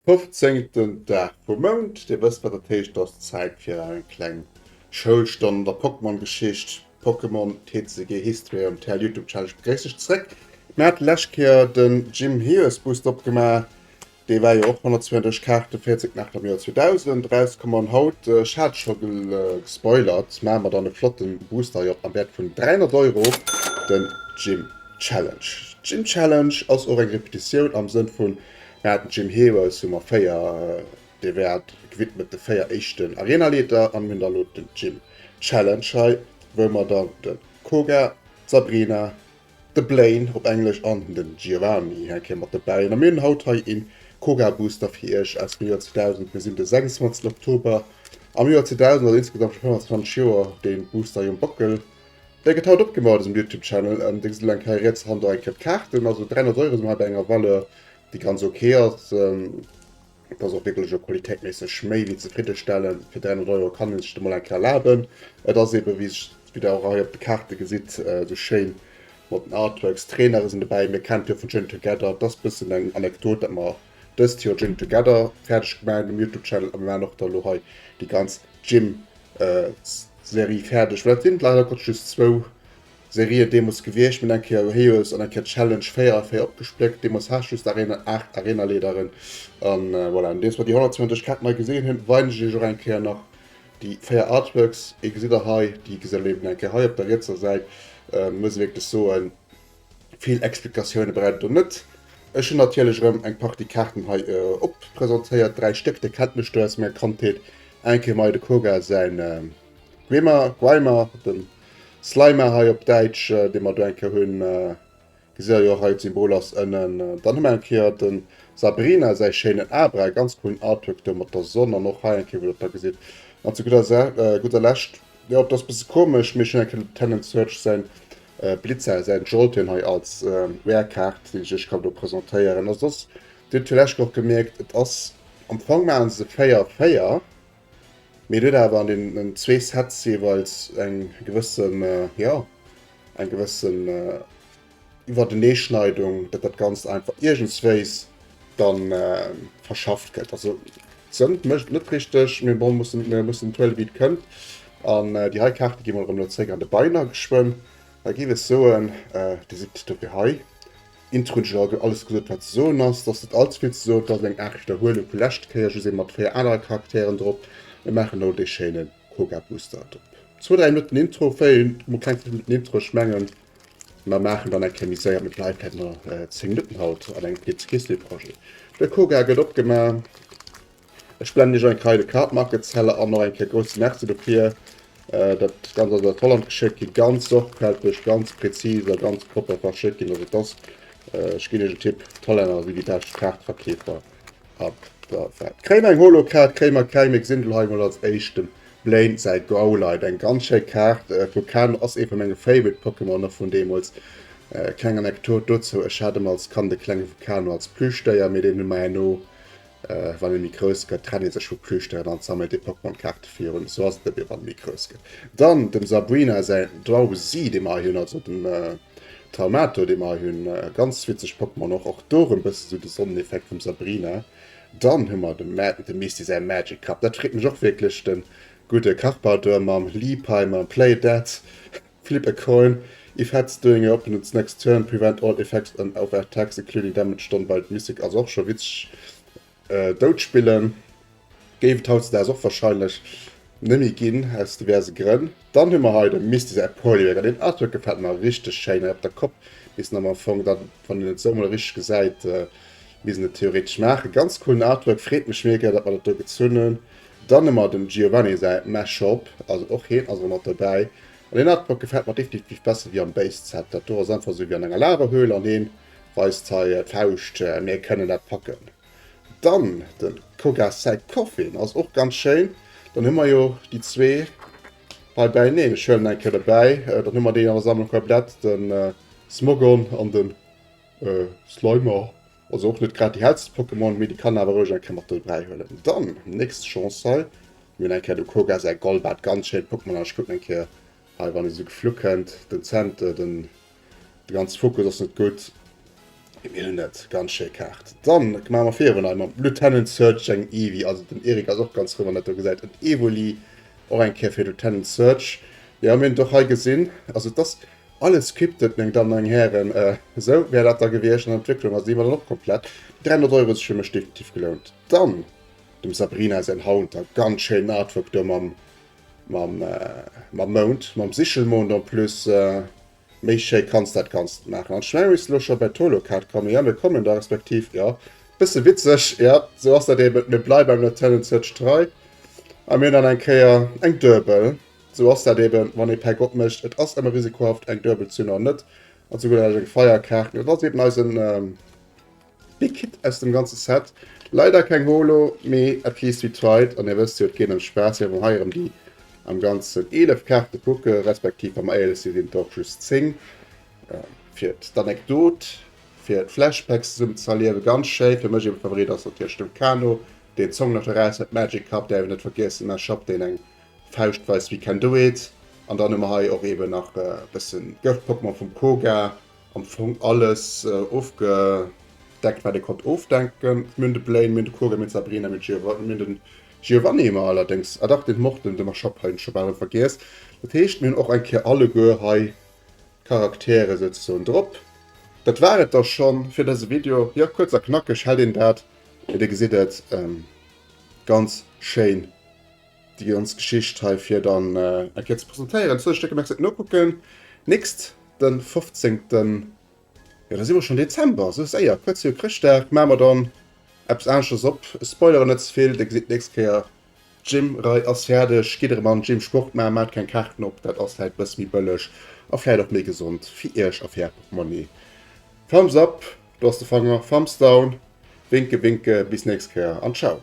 Fofzéngten Dag vum Mount, Dir wësst wat dat heescht, et ass Zäit fir eng kleng Schoulstonn an der Pokémon-Geschicht. Pokémon TCG History on Tell Youtube Challenge begréiss ech zréck. Mir haten lescht Kéier den Jim Hears Boost opgemaach. Dee war jo och 132 Kaarten, 40 Mächter am Joer 2000 erauskommen. An haut, ech hat scho gespoilert, maache mer dann e flotten Booster hei op am Wäert vun 300 Euro, den Jim Challenge. Jim Challenge ass och eng Repetitioun am Sënn vun, mir haten Jim Hears, hu mer 4 Dir wäert gewidmet de 4 éischten Arenaleeter an mir hunn da elo den Gym Challenge hei, wou mer dann de Koga, d'Sabrina, de Blaine, op Englesch, an de Giovanni hei kréie mat dobäi hunn. A mir hunn haut hei ee Koga Booster fir iech aus dem Joer 2000. Mir sinn de 26 Oktober am Joer 2000, also insgesamt scho 25 Joer dee Booster hei um Bockel. Dee gëtt haut opgemaach an dësem Youtube Channel. Dir gesitt elo eng Kéier riets hanter eng Kéier d'Kaarten, also 300 Euro si mer hei bei enger Valeur déi ganz ok ass. Et ass och wierklech elo qualitéitméisseg méi wéi zefriddestellend. Fir 300 Euro kann ee sech dat mol eng Kéier erlaben. Et ass eeben, wéi sech, wéi der och hei op de Kaarte gesitt, esou schéin mat den Artworks. Trainere sinn dobäi, mir kennt jo vun Gin Together. Et ass e bëssen eng Anekdot, datt mer dëst Joer Gin Together fäerdeg gemaach hunn um Youtube-Channel a mir maachen och da elo hei déi ganz Gym-Serie fäerdeg, well et sinn leider Gottes just zwou. Serie deemols gewiecht, mir hunn eng Kéier Heroes an eng Kéier Challenge 4 a 4 opgespléckt, deemols haascht just Arena 8 Arenaleederen an voilà. Nodeems mer déi 120 Kaart mei gesinn hunn, weisen ech iech och eng Kéier nach déi 4 Artworks. Ee gesitt der hei, déi gesitt der eben eng Kéier hei op der rietser Säit. Muss ee wierklech soen, vill Explikatioune braucht et do net. Ech hunn natierlech erëm eng Partie Kaarten hei oppresentéiert, dräi Stéck, dir kennt mech do aus menger Kandheet, eng Kéier mei de Koga säin. D'Gwimmer, Gweimar, den Slimer hei op Däitsch, dee mer do eng Kéier hunn, gesier jo och hei d'Symbol ass ënnen. Dann hu mer eng Kéier den Sabrina säi schéinen Abra, ganz coolen Artwork do mat der Sonn, an och hei eng Kéier wou der da gesitt. An zu gudder Lescht, jo et ass bësse komesch, mee ech hunn eng Kéier de Lieutenant Surge säin Blitzer, säin Jolteon hei als Rare Kaart déi ech iech kann do presentéieren. A soss, dir hutt villäicht och gemierkt, et ass am Fong maachen se se 4, 4. Mee et huet awer an deenen zwee Sets jeeweils eng gewësse, jo, eng gewësse Iwwerteneeschneidung, datt dat Ganzt einfach iergendswéis da verschafft gëtt. Also d'Sënd mécht et net richteg, mee bon, mir mussen et huele wéi et kënnt. An déi hei Kaarte gi mer erëm elo zréck an de Beiner geschwënn. A géif ech soen, déi sidd dofir hei. Intro hunn ech jo alt alles gesot wat ze soen ass, et ass net all ze vill ze soen, et ass eng Aart Widderhuelung vu leschte Kéier, just ebe mat 4 anere Charakteren drop. Mir maachen elo dee schéine Koga Booster drop. Zwou, dräi Minutten Intro, véier mol kleng 5 Minutten Intro, ech mengen mer maachen dann eng Kéier méi séier, mat live hätte mer 10 Minutten haut an engem Pizza Kiss Day Projet. De Koga gëtt opgema. Ech blenden iech eng Kei de Card Market Seller an och eng Kéier grousse Merci dofir. Dat ganz ass aus Holland geschéckt ginn, ganz sorgfälteg, ganz präzis a ganz propper verschéckt ginn. Also et ass, ech ginn iech en Tipp, d'Hollänner si déi bescht Kaartverkeefer ab der Welt. Kréie mer eng Holo-Kaart? Kréie mer keng, mee gesinn do hei emol als éischt dem Blaine säi Growlite. Eng ganz schéi Kaart vu Ken, ass ee vu menge Favorite Pokémon nach vun deemools. Kleng Anekdot dozou, ech hat ëm als Kand e klenge Vulcano als Plüschdéier, mee deen hu mer herno Wann ee méi grouss gëtt, trennt ee sech vu Plüschdéieren an sammelt ee Pokémon-Kaarte virun. Sou ass et net méi, wann ee méi grouss gëtt. Dann dem Sabrina säin Drowzee, dee mer hei hunn, also dem Talmato, dee mer hei hunn. Ganz witzeg Pokémon och. Och do erëm e bësse sou de Sonneneffekt vum Sabrina. Dann hu mer dem dem Misty säi Magic Cup. Dat freet mech och wierklech. De gudde Karpador mam Liepaimer, Play Dead. Flip a coin, if heads doing your opponents next turn, prevent all effects and of attacks including damage done by mythic, also och scho witzeg dout spillen. Géif et hautzedags och wahrscheinlech nemmi ginn aus diverse Grënn. Dann hu mer hei de Misty säi Polyrack, an den Artwork gefällt mer richteg schéin hei op der Kopp missen am Fong dann wann een et esou mol richteg gesäit missen et theoretesch maachen. Ganz coolen Artwork, freet mech mega dat mer dat do gezunn hunn. Dann hu mer dem Giovanni säi Mashup, also och hien ass erëm mat dobäi. An deen Artwork gefält mer definitiv besser wéi am Base Set. Dat do ass einfach esou wéi an enger Lavahöhle an hien weist hei d'Fauscht, mir kënnen dat packen. Dann dem Koga säi Coffin ass och ganz schéin. Dann hu mer jo déi zwee hei bäineen, ech huelen eng Kéier dobäi, dann hu mer déi an der Sammlung komplett, den Smogon an den Slimer. Also och net grad déi hellsten Pokémon, mee déi kann awer roueg eng Kéier mat an de Bräi huelen. Dann, nächst Chance hei. Mir hunn eng Kéier de Koga, säi Golbat, ganz schéint Pokémon. An ech kucken eng Kéier hei, wann e sou geflu kënnt. Den Zent, äh, den, de ganze Fokus ass net gutt. Mee mir hunn et, ganz schéi Kaart. Dann maache mer virun hei mam Lieutenant Surge eng Eevee. Also den Erik ass och ganz frou, wann dat do gesäit. En Evoli, och eng Kéier fir Lieutenant Surge. Jo, mir hunn et och hei gesinn. Also et ass, Alles scripted, meng Dammen a meng Hären. Esou wär dat da gewiescht an der Entwécklung ass déi mat an och komplett. Déi 300 Euro hu sech fir mech definitiv gelount. Dann dem Sabrina säin Haunter, ganz schéinen Artwork do mam mam mam Mound, mam Sichelmond en plus. Méi schéi kanns dat ganzt net maachen an ech mengen mir misste elo scho bei d'Holo-Kaart kommen. Jo mir kommen da, respektiv jo bësse witzeg, jo esou ass dat eben, mir bleiwe beim Lieutenant Surge trei a mir hunn dann eng Kéier eng Duebel. Sou ass dat eben, wann ee Päck opmécht, et ass ëmmer risikohaft, eng duebel ze hunn oder net. An zu gudder Lescht eng Feierkaart. An dat ass eben eisen Big Hit aus dem ganze Set. Leider keng Holo, mee at least we tried. An dir wësst jo, et geet ëm Spaass. Mir hu hei erëm déi am Ganzen 11 Kaarte kucke, respektiv wa mer éierlech sinn, sinn et och just 10. Fir d'Anekdot, fir d'Flashbacks zesummen ze erliewen, ganz schéi. Fir mech ee Favorit ass natierlech dem Kano deen Song nach eraus huet, Magic Cup, däerf een net vergiessen, Mash-Up, deen eng Fauscht weist we can do it an dann hu mer hei och eben nach e bëssen Gëft Pokémon vum Koga. Am Fong alles ofgedeckt wat ee konnt ofdenken. Mir hunn de Blaine, mir hunn de Koga, mir hunn d'Sabrina, mir hunn de Giovanni hu mer allerdéngs, ah dach den Morten, de Mashop hunn ech scho bal erëm vergiess. Dat heescht mir hunn och eng Kéier alleguer hei d'Charaktere souzesoen drop. Dat war et da schonn fir dëse Video. Jo kuerz a knackeg hält een dat. Mee dir gesitt et ganz schéin. Déi ganz Geschicht hei fir dann eng Kéier ze presentéieren. Zwou Stécker, merci fir den Nokucken. Nächst de 15. Jo, da si mer schonn Dezember, esou séier. Kuerz viru Chrëschtdag maache mer dann eppes aneschtes op. Ech spoileren net ze vill, Dir gesitt d'nächst Kéier. D'Gym-Rei ass fäerdeg. Gitt erëm an den Gym Sport maachen. Maacht keng Kaarten op, dat ass vläicht e bësse méi bëlleg a vläicht och méi gesond fir Iech a fir Är Portmonni. Thumbs up, do ass de Fanger. Thumbs down, Winke winke. Bis d'nächst Kéier an Ciao.